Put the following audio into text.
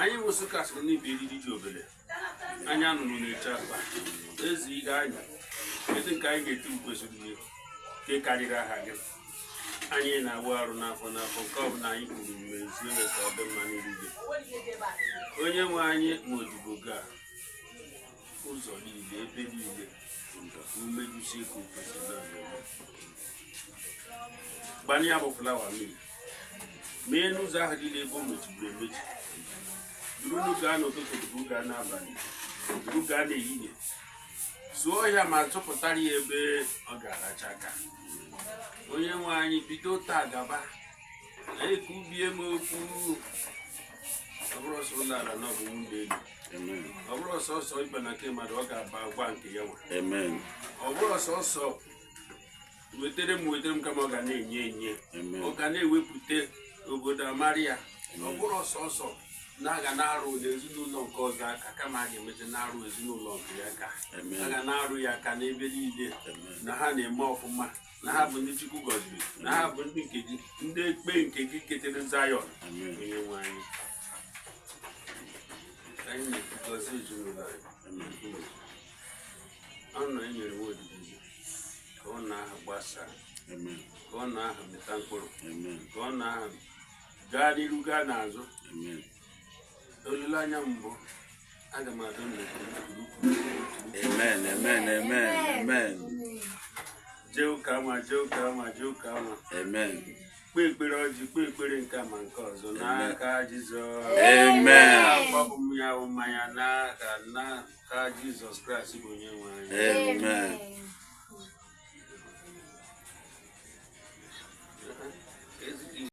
anyị wụsị kasị n'ibi eriri dị obere anyị anọrọ na-eche akpa ezi ihe anyị ezi nke anyị ga-eti kwesịrị ihe nke karịrị aha gị anyị na-awụ arụ n'afọ n'afọ nke ọ bụla anyị kwuru mezie ya ka ọ dị mma n'eriri onye nwe anyị nwa odibo gị a ụzọ niile ebe niile mmejusi ka ofesi gbanye ya bụ flawa mmiri mee n'ụzọ ahụ niile ebe o mechiburu emechi duru n'oge a n'ụtụtụ duru gaa n'abalị duru gaa n'ehihie zụọ ya ma tụpụtara ya ebe ọ ga-aracha aka onye nwe anyị bido taa gaba ekwubie m okwu ọ bụrọ sọ ụlọ ala na ọ bụ nwunye elu Amen. ọ bụrọ sọsọ ịba na nke mmadụ ọ ga-abakwa nke ya nwa Amen. ọ bụrọ sọsọ wetere m wetere m kama ọ ga na-enye enye Amen. ọ ga na-ewepụta obodo amara ya ọ bụrọ sọsọ na a ga na-arụ n'ezinụlọ nke ọzọ aka kama a ga-emezi na-arụ ezinụlọ nke ya aka Amen. a ga na-arụ ya aka n'ebe niile Amen. na ha na-eme ọfụma na ha bụ ndị Chukwu gọziri na ha bụ ndị nke gị ndị ekpe nke i ketere Zayọn onye nwe anyị anyị na-ekwu gọzie ezinụlọ anyị ọ na enyere nwa odibo gị ka ọ na ha gbasaa ka ọ na ha mịta mkpụrụ ka ọ na ha gaa n'iru gaa n'azụ olileanya m bụ aga m adị ndụ amen amen amen amen jee ụka ma jee ụka ma jee ụka ma amen kpee ekpere ọjị kpee ekpere nke a ma nke ọzọ n'aka jizọs amen agbapụ m ya bụ mmanya n'aka n'aka jizọs kraịst bụ onye nwe anyị amen